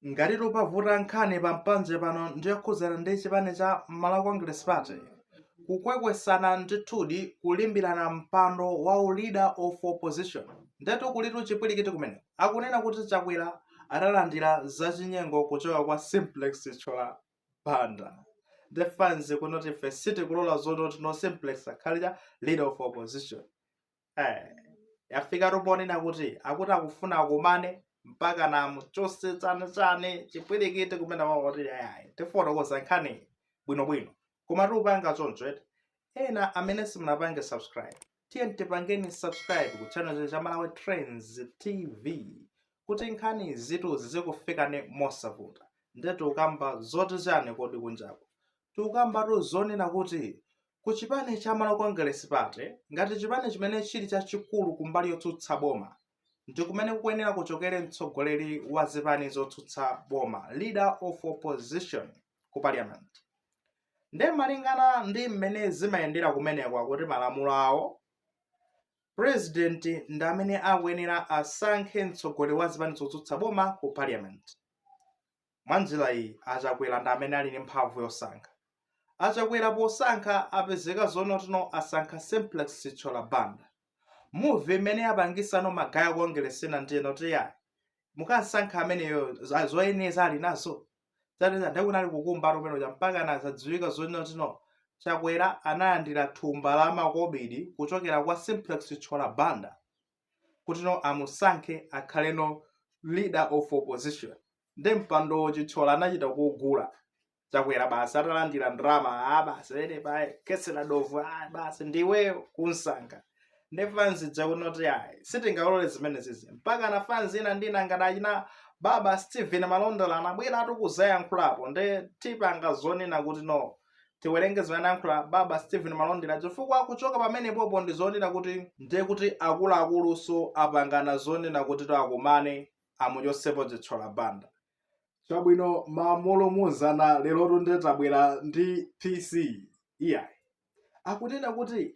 Ngatitu pavuta nkhani pa mpanje pano ndi yokhudzana ndi chipani cha Malawi Congress Party, kukhwekhwesana ndithudi kulimbirana mpando wa u Leader of Opposition. Ndetu kulitu chipwirikiti kumeneko. Akunena kuti Chakwera analandira zachinyengo kuchoka kwa Simplex Chithyola Banda. Nde fans kunoti ife sitikulola zoti no Simplex akhale cha Leader of Opposition. eh, yafika tu ponena kuti akuti akufuna akumane mpaka amuchotse chani chani chipwirikiti kumeneko akuti ayayi tifotokoza nkhani bwinobwino koma tiupanga choncho eti ena amene simunapange subscribe tiyeni tipangeni subscribe ku channel cha malawi trends tv kuti nkhanizitu zizikufikani mosavuta nde tiukamba zoti chani kodi kunjako tiukambatu zonena kuti ku chipani cha Malawi Congress Party ngati chipani chimene chili chachikulu ku mbali yotsutsa boma ndi kumene kukuyenera kuchokere mtsogoleri wa zipani zotsutsa boma, leader of opposition, ku parliament. Nde malingana ndi mmene zimayendera kumeneko akuti malamulo awo, president ndi amene akuyenera asankhe mtsogoleri wa zipani zotsutsa boma ku parliament. Mwa njira iyi, a Chakwera ndi amene ali ndi mphamvu yosankha. A Chakwera posankha apezeka zonati no asankha Simplex Chithyola Banda. Move imene yapangisa no magaya a kongeresi ena ndi noti iyayi mukamsankha ameneyo za- zoyenereza ali nazo. Chatiza ndiye kunali kukumba ati kumene uja mpakana zadziwika zonati no Chakwera analandira thumba la makobidi kuchokera kwa Simplex Chithyola Banda. kuti no amusankhe akhale no leader of opposition nde mpandowo chithyola anachita kuugula chakwera basi atalandira ndalama a basi pene pa kesi la dobvu a basi ndiweyo kumsankha nde fanzi yakunoti ayi sitingalole zimenezizi mpakana fanzi ina ndina ngati achina baba stephen malondera anabwera atu kudzayankhulapo nde tipanga zonena kuti no tiwerenge zimene anayankhula baba stephen malondera chifukwa kuchoka pamenepopo ndi zonena kuti ndiye kuti akuluakulunso apangana zonena kuti ati akumane amuchotsepo chithyola banda chabwino mmamu mzana lero tunde tabwera ndi pc iyayi akunena kuti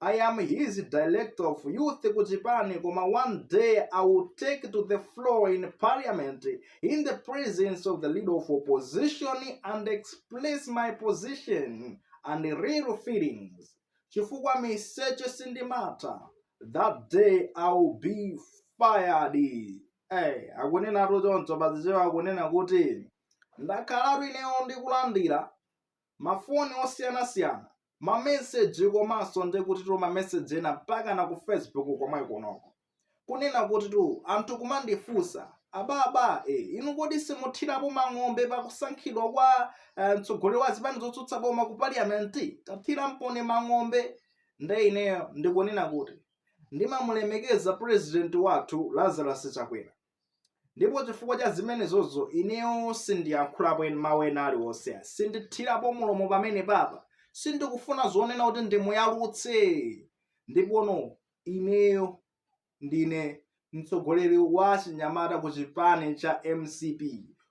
I am his director of youth kuchipani koma one day I will take to the floor in parliament in the presence of the leader of opposition and express my position and real feelings chifukwa miseche sindimatha that day I will be fired hey, akunenatu choncho pachichewa akunena kuti ndakhalatu ineyo ndikulandira mafoni osiyanasiyana mameseji komanso ndi kutitu mameseji ena mpaka na ku facebook komwe kunoko kunena kutitu anthu kumandifunsa ababa e, inu kodi simuthirapo mang'ombe pakusankhidwa kwa eh, mtsogoleri wa zipani zotsutsa boma ku parliamenti tathiramponi mang'ombe nde ineyo ndikunena kuti ndimamulemekeza president wathu lazarus chakwera ndipo chifukwa cha zimenezozo ineyo sindiyankhulapo en- mawu ena aliwonse ayi. sindithirapo mulomo pamenepapa sindikufuna zonena kuti ndimuyalutse ndipono ineyo ndine mtsogoleri wa chinyamata ku chipani cha mcp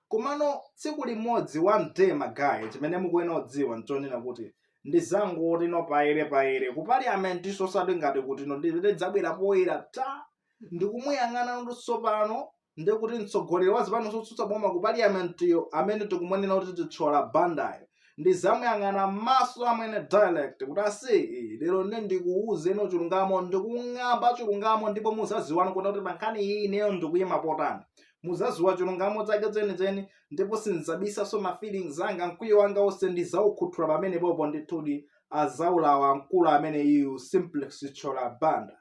komano tsiku limodzi wa nde magaye chimene mukuyenera kudziwa nchonena kuti ndizangoti no payere payere ku parliamentinso osati ngati kutino ndidzabwera poyera ta ndikumuyang'ana kuti tsopano ndi kuti mtsogoleri wa zipani zotsutsa boma ku parliamentiyo amene tikumunena kuti chithyola bandayo ndizamuyang'ana m'maso amwene direct kuti aise lero nde ndikuwuzeno chilungamo ndikung'amba chilungamo ndipo muzaziwano kunena kuti pankhani iyi ineyo ndikuyima potani muzaziwa chilungamo chake chenicheni ndipo sindizabisaso ma feelings anga mkwiyo wanga wonse ndizawukhuthula pamenepopo ndithudi azawulawa mkulu ameneyu simplex chithyola banda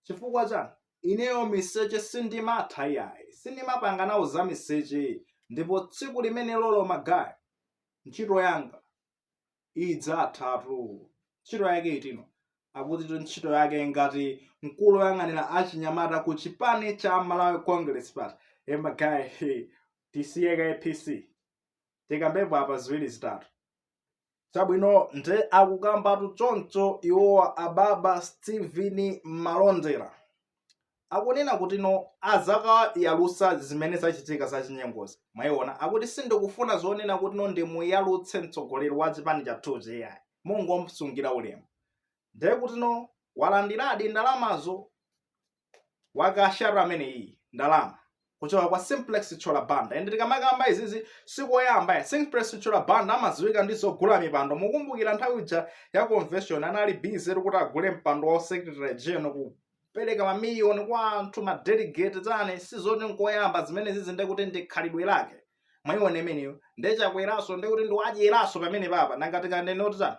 chifukwa chani ineyo miseche sindimatha iyayi sindimapanga nawo za miseche ndipo tsiku limenelolo magaye ntchito yanga idzathatu ntchito yake itino akutitu ntchito yake ngati mkulu woyang'anira achinyamata ku chipani cha malawi congress party e magaye he, tisiye ka apc tikambepo apa ziwiri zitatu chabwino nde akukambatu choncho iwowa ababa steven malondera akunena kuti no azakayalusa zimene zachitika za chinyengozi mwayiona akuti sindikufuna zonena kuti no ndimuyalutse mtsogoleri wa chipani chathuchi iyayi mungomsungira ulemu nde kuti no walandiradi ndalamazo wakasharu ameneyi ndalama kuchoka kwa simplex chithyola banda ende tikamakamba izizi sikoyamba iyayi simplex chithyola banda amadziwika ndi zogula mipando mukumbukira nthawi ija ya convention anali busy kuti agule mpando wa secretary general kupereka mamiliyoni kwa anthu madelegate zane sizoti nkoyamba zimenezizi nde kuti ndi khalidwe lake mwayiona imeneyo nde chakweraso ndekuti ndi wadyeraso pamenepapa nanga tikanene kuti tani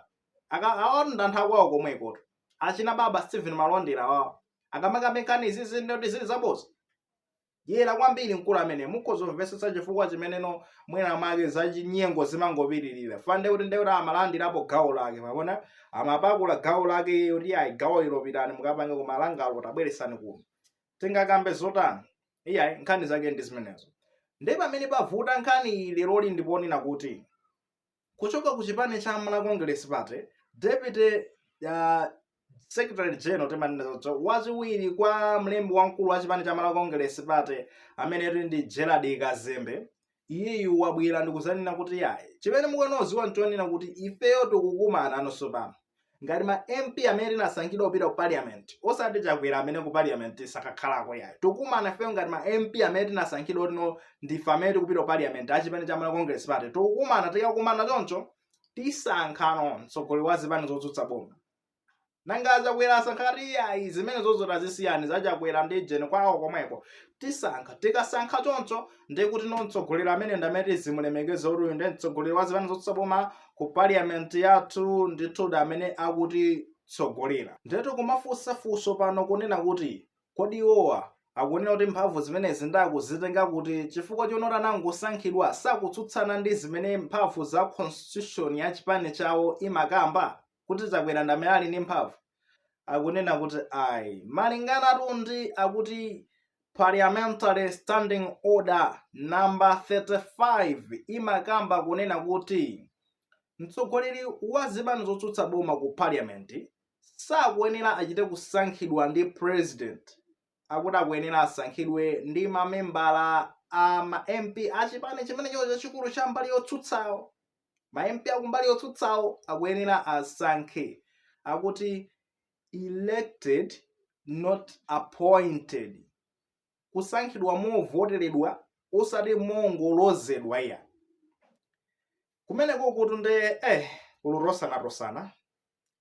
akaonda nthawi kwawo komwekotu achina baba Steven Malondera wawo akamakamba nkhani izizi ndoti zili zaboza dyera kwambiri mkulu amene mukhoza kumvetsetsa chifukwa chimeneno mwina make zachinyengo zimangopitirira fande kuti ndekuti amalandirapo gawo lake mwapaona amapakula gawo lake iye kuti ayi gawo ilo pitani mukapange kumalangalo tabweresani kuno tingakambe zotani iyayi nkhani zake ndi zimenezo ndi pamene pavuta nkhani iyi leroli ndi ponena kuti Kuchoka ku chipani cha Malawi Congress Party, Deputy uh, Secretary General timanenazo tso wachiwiri kwa mlembi wamkulu wa chipani cha Malawi Congress Party amene tili ndi Gerald Kazembe iyeyu wabwera ndikuzanena kuti yayi chimene mukuyenera kudziwa nchonena kuti ifeyo tikukumana posachedwapano ngati ma mp amene tinasankhidwa kupita ku parliament osati chakwera amene ku parliament sakakhalako yayi tikumana ifeyo ngati ma mp amene tinasankhidwa tino ndife amene tikupita ku parliament achipani cha malawi congress party tikumana tikakumana choncho tisankha mtsogoleri wa zipani zotsutsa boma nanga achakwera asankhati iyayi zimenezo zoti zisiyeni zachakwera ndi jeni kwawo komweko tisankha tikasankha choncho ndikutino mtsogoleri amene ndi amene tizimulemekeza kuti uyu ndi mtsogoleri wa zipani zotsutsa boma ku parliament yathu ndithu ndi amene akutitsogolera ndetu kumafunsa funso pano kunena kuti kodi iwowa akunena kuti mphamvu zimenezi akuzitenga kuti chifukwa choti no akangosankhidwa sakutsutsana ndi zimene mphamvu za constitution ya chipani chawo imakamba kuti chakwera ndamene ali ndi mphamvu akunena kuti ayi malinganatu ndi akuti parliamentary standing order number 35 imakamba kunena kuti mtsogoleri wa zipani zotsutsa boma ku parliament sakuyenera achite kusankhidwa ndi president akuti akuyenera asankhidwe ndi mamembala a ma mp a chipani chimenecho chachikulu cha mbali yotsutsawo ma mp akumbali yotsutsawo akuyenera asankhe akuti elected not appointed kusankhidwa movoteredwa osati mongolozedwa iyayi Kumeneko kutu nde eh kuli kulozanalozana.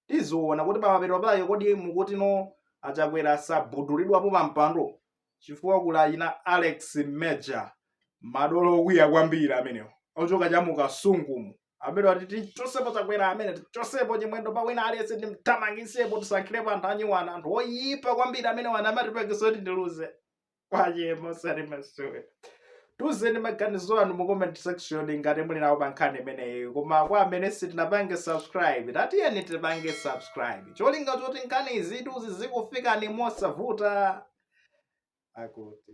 Tiziona kuti pamapeto pake kodi mukutino achakwera sagudulidwapo pa mpando chifukwa kuli a ina Alex Major madolo okwiya kwambiri amenewo ochoka cha mu Kasungumu amene ati tichosepo chakwera amene tichosepo Chimwendo pa wina aliyense timthamangisepo tisankhirepo anthu anyuwani anthu oyipa kwambiri amene awa anatipangitsa kuti tiluze kaya musalimasule tiuzeni maganizo anu mu comment section ngati muli nawo pa nkhani imeneyi koma kwa amene sitinapange subscribe tatiyeni tipange subscribe cholinga choti nkhani izitu zizikufikani mosavuta akuti